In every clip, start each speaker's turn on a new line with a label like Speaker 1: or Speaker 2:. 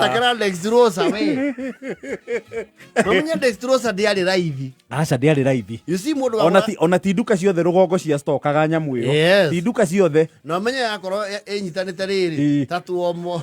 Speaker 1: Thakĩra Lex Rosa we. Mamenya Lex Rosa ndĩarĩ raithi. aca ndĩarĩ raithi
Speaker 2: You see mũndũ ona wagũra- ti-
Speaker 1: ona ti nduka ciothe
Speaker 2: rũgongo cia stokaga nyamũ ĩyo Yes. ti nduka ciothe
Speaker 1: na
Speaker 2: menya yakorwo
Speaker 1: ĩ- ĩnyitanĩte Ĩĩ. rĩrĩ ta tuomo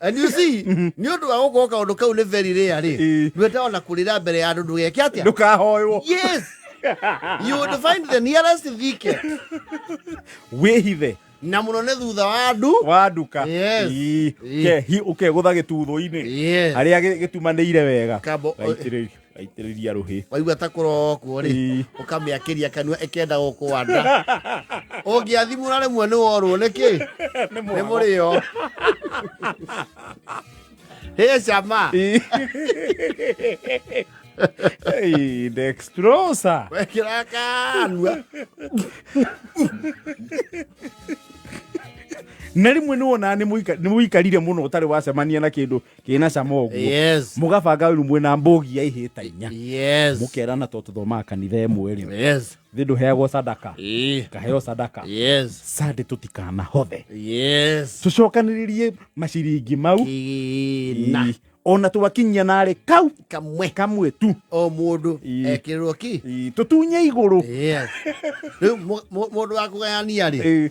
Speaker 1: And you see, nĩ ũndũ wa gũkorwo kaũndũ kau nĩ very rare rĩ Ĩĩ. ndwenda ona kũrĩra mbere ya andũ ndũgeke atĩa ndũkahoywo yes you would find the nearest thicket
Speaker 2: wĩhithe na mũno
Speaker 1: nĩ thutha wa andũ wa nduka Yes. Ii. Ii. Ke- hi-
Speaker 2: ũkegũtha gĩtuthũ-inĩ yes harĩa gĩ- gĩtumanĩire wega Kabo- gaitĩrĩrio gaitĩrĩria rũhĩ waigua ta kũrokwo
Speaker 1: rĩ Ii. ũkamĩakĩria kanua ĩkenda gũkwanda ũngĩathimũra rĩmwe nĩ worwo nĩkĩ nĩ nĩ mũrĩo hĩ cama Hey,
Speaker 2: dextrosa wekĩra
Speaker 1: kanua
Speaker 2: na rĩmwe nĩ wonaga nĩ mũika- nĩ mũikarire mũno ũtarĩ wacemania na kĩndũ kĩna cama ũguo yes mũgabanga wĩru mwĩna mbũgi ya ihĩĩ ta inya yes mũkerana to tũthomaga kanitha ĩmwe rĩ yes thĩ ndũheagwo sadaka Eh, kaheo sadaka yes sande tũtikana hothe yes tũcokanĩrĩrie maciringi mau kina Ii. ona twakinyia narĩ kau kamwe kamwe tu o mundu Ii.
Speaker 1: ekirwo ki Ii, tũtunye igũrũ
Speaker 2: yes
Speaker 1: riu mundu wa kugayania ri Ii.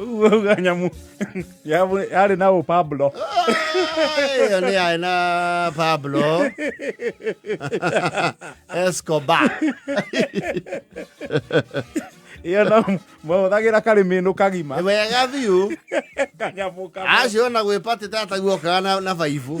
Speaker 2: uga nyamå yarä na å pablo
Speaker 1: ĩyo nĩ yaĩ na pablo escobar
Speaker 2: ä yo na mahåthagä ra karä mä nå kagima Nĩ wega biũ
Speaker 1: kanyamå
Speaker 2: kamwe acio ona gwĩpatĩte
Speaker 1: ataguokaga na, na baibũ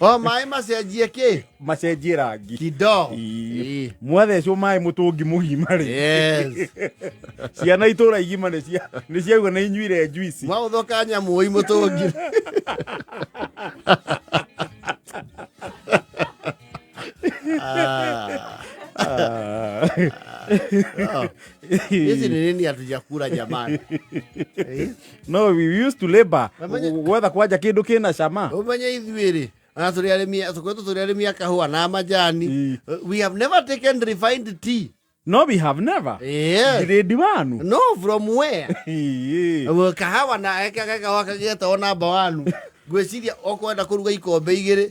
Speaker 1: o maĩ macenjie kä macenjie rangi
Speaker 2: kido Ii. Ii.
Speaker 1: mwathecwo
Speaker 2: maĩ mũtũngi mũgima rĩ Yes.
Speaker 1: ciana
Speaker 2: itũra igima nĩ cia- nĩ ciaigua nĩ inyuire njuici mwaũthoka nyamũi må
Speaker 1: tå ngi Ah. hizi ni nini hatujakula jamani Eh?
Speaker 2: no we used to labor Wamenye- gwetha kwanja kindu kina cama umenye ithuĩ rĩ
Speaker 1: ona tũrĩ arĩmi tũkoretwo tũrĩ arĩmi a kahũa na majani Ii. Uh, we have never taken refined tea no we have
Speaker 2: never yes. grade
Speaker 1: wanu no
Speaker 2: from where
Speaker 1: Ii. Wĩ kahawa na ekaga kahũa kagĩgetawo namba wanu ngwĩciria okwenda kũruga ikombe igĩrĩ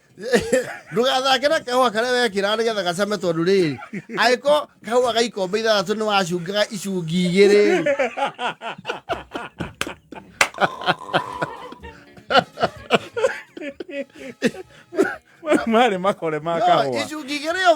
Speaker 1: ndũgathake na kahũa karĩa wekĩra nĩ getha gacame tondũ rĩrĩ agĩko kahũa ga ikombe ithathatũ nĩ wacungaga icungi igĩrĩ
Speaker 2: marä makore ma kahåa icungi igä rä
Speaker 1: o